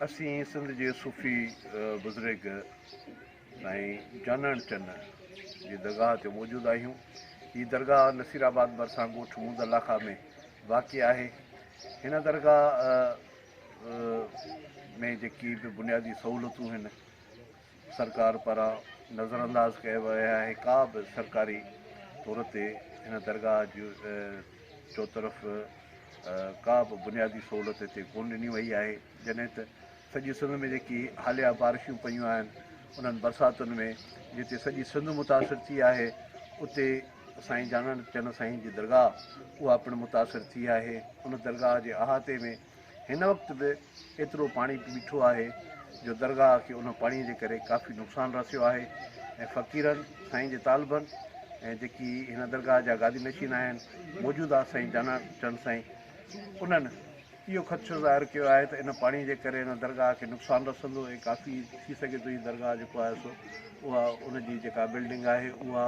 اسين سنڌ جي صوفي بزرگ سائين جانڻ چن جي درگاهه تي موجود آهيون. هي درگاهه نصير آباد ڀرسان ڳوٺ مود لاکا ۾ واقع آهي. هن درگاهه ۾ جيڪي به بنيادي سهولتون هن. سرڪار پاران نظرانداز ڪيا ويا آهي ڪا به سرڪاري طور تي هن درگاهه جي چوطرف ڪا به بنيادي سهولت هتي ڪون ڏني وئي آهي جڏهن ته سڄي سنڌ ۾ جيڪي حاليا بارشون پيون آهن انهن برساتن ۾ جتي سڄي سنڌ متاثر ٿي آهي اتي سائين جانڻ چن سائين جي درگاهه اها پڻ متاثر ٿي آهي ان درگاهه جي احاطي ۾ هن وقت به ايترو پاڻي بيٺو آهي جو درگاهه کي ان پاڻي جي ڪري ڪافي نقصان رسيو آهي ۽ فقيرن سائين جي طالبن ۽ جيڪي هن درگاهه جا گادي نشين آهن موجوده سائين جانا چند سائين انهن اهو خدشو ظاهر ڪيو آهي ته ان پاڻي جي ڪري ان درگاهه کي نقصان رسندو ۽ ڪافي ٿي سگهي ٿو هي درگاهه جيڪو آهي سو اها ان جي جيڪا بلڊنگ آهي اها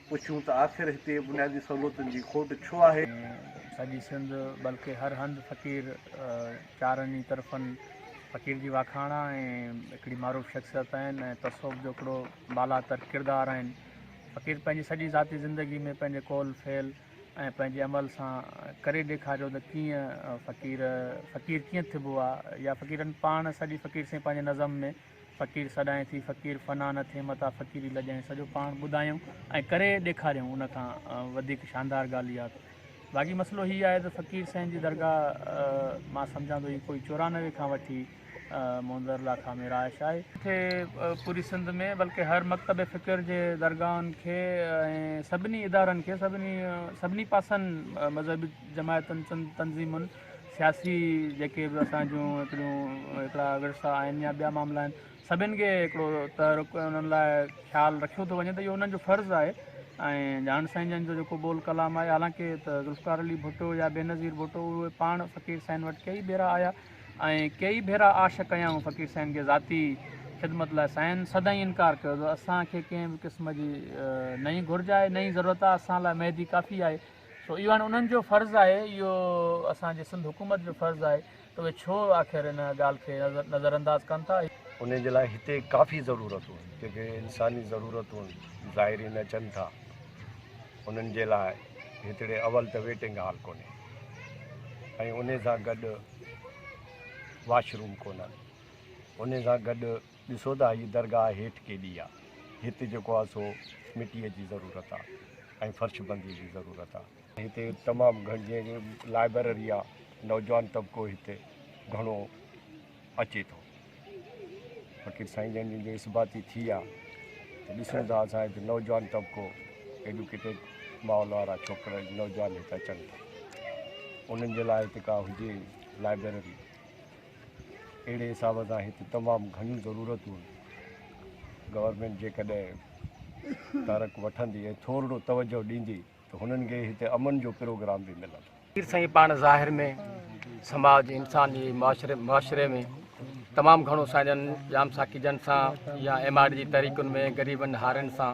پڇون ته آخر هتي بنيادي سهولتن جي کوٽ ڇو آهي؟ سڄي سنڌ بلڪه هر هنڌ فقير چارن ئي طرفن فقير جي واکاڻ آ ۽ هڪڙي معروف شخصيت آهن ۽ تصوف جو هڪڙو بالا تر ڪردار آهن فقير پنهنجي سڄي ذاتي زندگي ۾ پنهنجي قول فعل ۽ پنهنجي عمل سان ڪري ڏيکاريو ته ڪيئن فقير فقير ڪيئن ٿبو آ يا فقيرن پاڻ سڄي فقير سين پنهنجي نظم ۾ فقير سڏائين ٿي فقير فنا نه ٿئي متان فقيري لڄائين سڄو پاڻ ٻڌايئون ۽ ڪري ڏيکاريئون ان کان وڌيڪ شاندار ڳالهه اها ته باقي مسئلو هي آهي ته فقير سائين جي درگاهه مان سمجهان ٿو هي ڪوئي چورانوي کان وٺي مونزر لاکا ۾ رهائش آهي ڪٿي پوري سنڌ ۾ بلڪه هر مڪتب فڪر جي درگاهن کي ۽ سڀني ادارن کي سڀني سڀني پاسن مذهبي جماعتن تنظيمن سياسي جيڪي به اسان جون هڪڙيون هڪڙا ورثا آهن يا ٻيا معاملا آهن سڀني کي هڪڙو تحرڪ انهن لاء خيال رکيو ٿو وڃي ته اهو انهن جو فرض آهي ۽ جان سائين جن جو جيڪو بول ڪلام آهي حالانڪه ته ذوالفقار علي ڀٽو يا بينظير ڀٽو اهي پاڻ فقير سائين وٽ ڪيئي ڀيرا آيا ۽ ڪيئي ڀيرا آش ڪيائون فقير سائين کي ذاتي خدمت لاء سائن سدائين انڪار ڪيو اٿو اسان کي ڪنهن به قسم جي نه ئي گهرج آهي نه ئي ضرورت آهي اسان لاء مهدي ڪافي آهي سو اهو هاڻي انهن جو فرض آهي، اهو اسان جي سنڌ حڪومت جو فرض آهي ته اهي ڇو آخر ان ڳالهه کي نظرانداز ڪن ٿا. انهيء جي لاء هتي ڪافي ضرورتون آهن، جيڪي انساني ضرورتون ظاهري نه اچن ٿا، انهن جي لاء هتڙي اول ته ويٽنگ هال ڪونهي ۽ انهي سان گڏ واش روم ڪونهن، انهي سان گڏ، ڏسو ته هيء درگاهه هيٺ ڪيڏي آ. هت جيڪو آ سو مٽيء جي ضرورت آ ۽ فرش بنديء جي ضرورت آ. هتي تمام گهڻ جيئن جو لائبرري آ، نوجوان طبقو هتي گهڻو اچي ٿو. فقير سائين جن جن جو اثباتي ٿي آ ته ڏسون ٿا اسان هت نوجوان طبقو ايڊوڪيٽيڊ ماحول وارا ڇوڪرا نوجوان هت اچن ٿا. انهن جي لاء هت ڪا هجي لائبرري. اهڙي حساب سان هت تمام گهڻيون ضرورتون آهن گورنمينٽ جيڪڏهن تارڪ وٺندي ۽ ٿورڙو توجه ڏيندي ته هنن کي هتي امن جو پروگرام به ملندو پير سائين پاڻ ظاهر ۾ سماج انسان جي معاشري معاشري ۾ تمام گهڻو سائين جن جام ساقي جن سان يا ايم آر جي تحريڪن ۾ غريبن هارين سان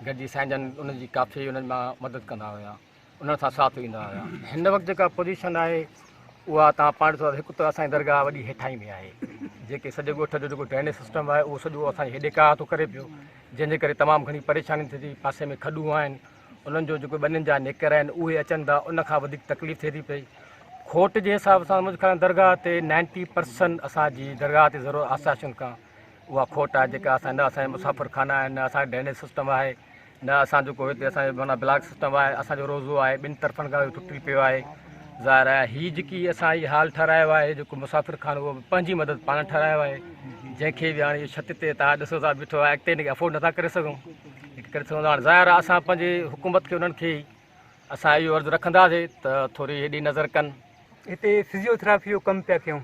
گڏجي سائين جن انهن جي ڪافي انهن مان مدد ڪندا هيا انهن سان ساٿ ويندا هيا. هن وقت جيڪا پوزيشن آهي اها تان پاڻ ڏسو ته هڪ ته اسان جي درگاهه وڏي هيٺاهين ۾ آهي جيڪي سڄي ڳوٺ جو جيڪو ڊرينيج سسٽم آهي اهو سڄو اسان جي هيڏي ڪاهه ٿو ڪري پيو جنهن جي ڪري تمام گهڻي پريشاني ٿئي ٿي پاسي ۾ کڏون آهن انهن جو جيڪو ٻنين جا نيڪر آهن اهي اچن ٿا ان کان وڌيڪ تڪليف ٿئي ٿي پئي کوٽ جي حساب سان مجھے خيال درگاهه تي نائنٽي پرسن اسان جي درگاهه تي ضرور آساشن کان اها کوٽ آهي جيڪا اسان نه اسان جا مسافر خانا آهن نه اسان جي ڊرينيج سسٽم آهي نه اسان جو ڪو هتي اسان جو معنيٰ بلاڪ سسٽم آهي اسان جو روزو آهي ٻن طرفن کان اهو ٽٽي پيو آهي ظاهر آهي هي جيڪي اسان هي حال ٺهرايو آهي جيڪو مسافر خان اهو پنهنجي مدد پاڻ ٺهرايو آهي جنهن کي به هاڻي اهو ڇت تي تاج ڏسو ٿا بيٺو آهي اڳتي هن کي افورڊ نٿا ڪري سگهون ڪري سگهون ٿا ظاهر آهي اسان پنهنجي حڪومت کي انهن کي اسان اهو عرض رکنداسي ته ٿوري هيڏي نظر ڪن هتي فزيو ٿراپي جو ڪم پيا ڪيون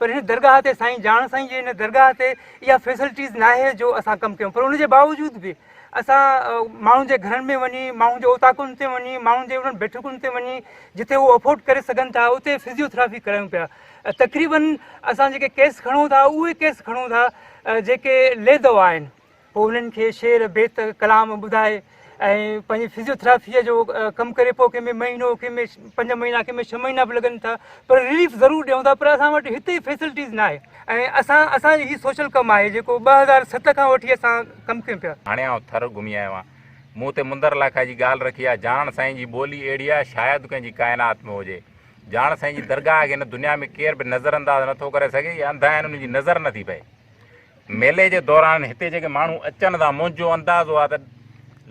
پر هن درگاهه تي سائين جاڻ سائين جي هن درگاهه تي اها فيسلٽيز ناهي جو اسان ڪم ڪيون پر ان جي باوجود به اسان ماڻهن جي گهرن ۾ وڃي ماڻهن جي اوطاقن تي وڃي ماڻهن جي انهن بيٺڪن تي وڃي جتي هو افورڊ ڪري سگهن ٿا اتي فزيوٿراپي ڪرايون پيا تقريبن اسان جيڪي ڪيس کڻون ٿا اهي ڪيس کڻون ٿا جيڪي لي دوا آهن پوء انهن کي شعر، بيت، ڪلام ٻڌائي ۽ پنهنجي فزيو ٿراپيء جو ڪم ڪري پوء ڪنهن ۾ مهينو ڪنهن ۾ پنج مهينا ڪنهن ۾ ڇهه مهينا به لڳن ٿا پر رليف ضرور ڏيون ٿا پر اسان وٽ هتي فيسلٽيز ناهي ۽ اسان اسان جي هي سوشل ڪم آهي جيڪو ٻه هزار ست کان وٺي اسان ڪم ڪيون پيا. هاڻي آئون ٿر گهمي آيو آهيان. مون تي مندر لاکا جي ڳالهه رکي آهي. جاڻڻ سائين جي ٻولي اهڙي آهي شايد ڪنهن جي ڪائنات ۾ هجي. جاڻڻ سائين جي درگاهه کي هن دنيا ۾ ڪير به نظر انداز نٿو ڪري سگهي. اهي انڌا آهن انهن جي نظر نٿي پئي. ميلي جي دوران هتي جيڪي ماڻهو اچن ٿا منهنجو اندازو آهي ته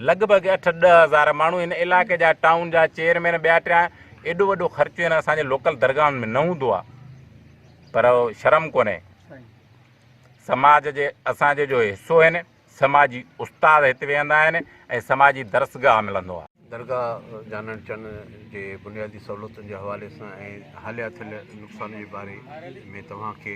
لڳ ڀڳ اٺ ڏهه هزار ماڻهو هن علائقي جا ٽائون جا چيئرمين ٻيا ٽيا ايڏو وڏو خرچ هن اسان جي لوڪل درگاهن ۾ نه هوندو آهي پر شرم ڪونهي سماج جي اسان جو حصو آهن سماجي استاد هت ويهندا آهن ۽ سماجي درسگاهه ملندو آهي درگاهه جانڻ چن جي بنيادي سهولتن جي حوالي سان ۽ حاليا ٿيل نقصان جي باري ۾ توهان کي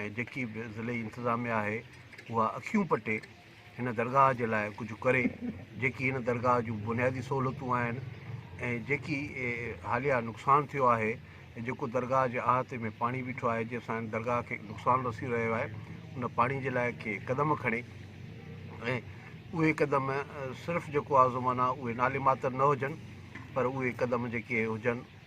۽ جيڪي به ضلعي انتظاميا آهي اها اکيون پٽي هن درگاهه جي لاء ڪجهه ڪري جيڪي هن درگاهه جون بنيادي سهولتون آهن ۽ جيڪي حاليا نقصان ٿيو آهي جيڪو درگاهه جي احاطي ۾ پاڻي بيٺو آهي جنهن سان درگاهه کي نقصان رسي رهيو آهي ان پاڻي جي لاء ڪي قدم کڻي ۽ اهي قدم صرف جيڪو آزمانا اهي نالي ماتر نه هجن پر اهي قدم جيڪي هجن